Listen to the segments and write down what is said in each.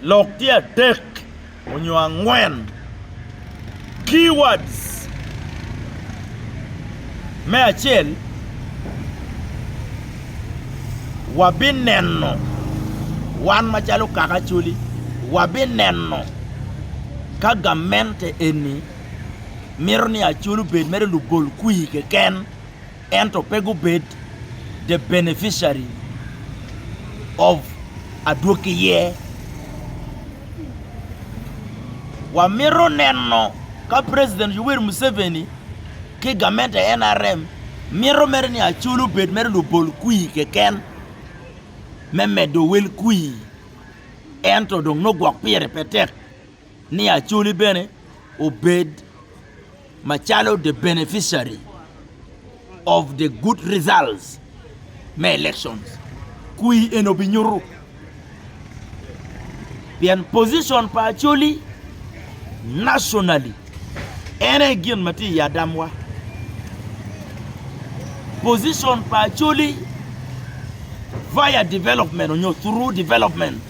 Lok tye adek onyo angwen keywords me acel wabineno wan macalo kaka Acholi wabineno ka gamente eni mito ni Acholi obed mere lugol kwir keken. ento pe gubed the beneficiary of adwoki ye. Wamito neno ka President Yoweri Museveni ki gamente nrm mito mere ni Acholi obed mere lubol kwir keken me medo wel kwir ento dong nongo gwok pire pe tek ni Acholi bene obed macalo the beneficiary of the good results me elections kwi en obinyutu pien position pa Acholi nationally en aye gin ma tye i adamwa position pa Acholi via development onyo through development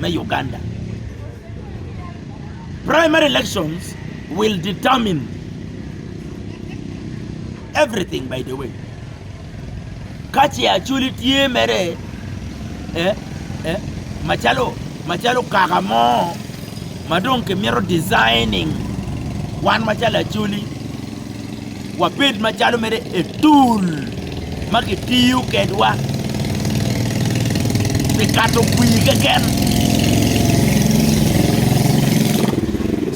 me Uganda. Primary elections will determine everything by the way. Ka ce Acholi tye mere eh, eh, macalo macalo kaka mo ma dong kimito designing wan macalo Acholi Wabed macalo mere etul ma kitiyo kedwa pi kato kwir keken.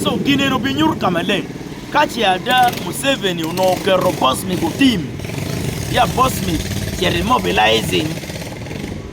Co gin eni obinyuto ka maleng ka ce ada Museveni onongo oketo Bosmic otim ya Bosmic cito imobilizing.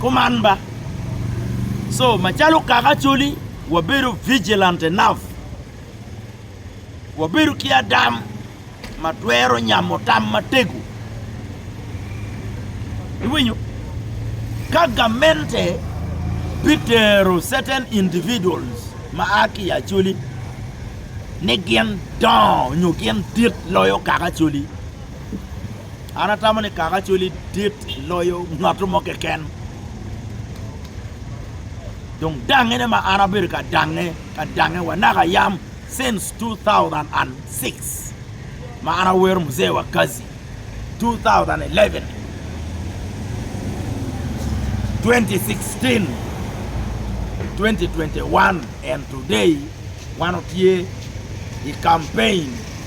Kuman ba. So, macalo kaka Acholi, wabedo vigilant enough, wabedo ki adam ma twero nyamo tam matego. Iwinyo? Ka gamente bitero certain individuals ma a ki i Acholi ni gin dongo nyo gin dit loyo kaka Acholi, An atamo ni kaka cwali dit loyo ngat mo keken. Dong dangene ma an abedo ka dange, ka dange wa naka yam since 2006 ma an awero Mzee wa Kazi 2011, 2016, 2021 and today wan otye i campaign.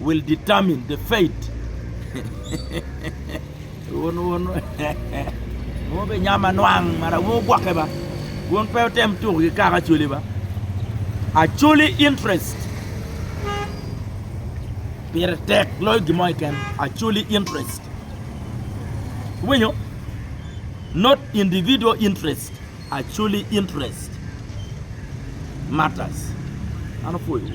will determine the fate Mo be nyam anwang mara wun gwokke ba wun pe otem tuku ki kaka acoli ba acoli interest pire tek loyo gimo iken acoli interest winyo not individual interest acoli interest matters ano pwoyo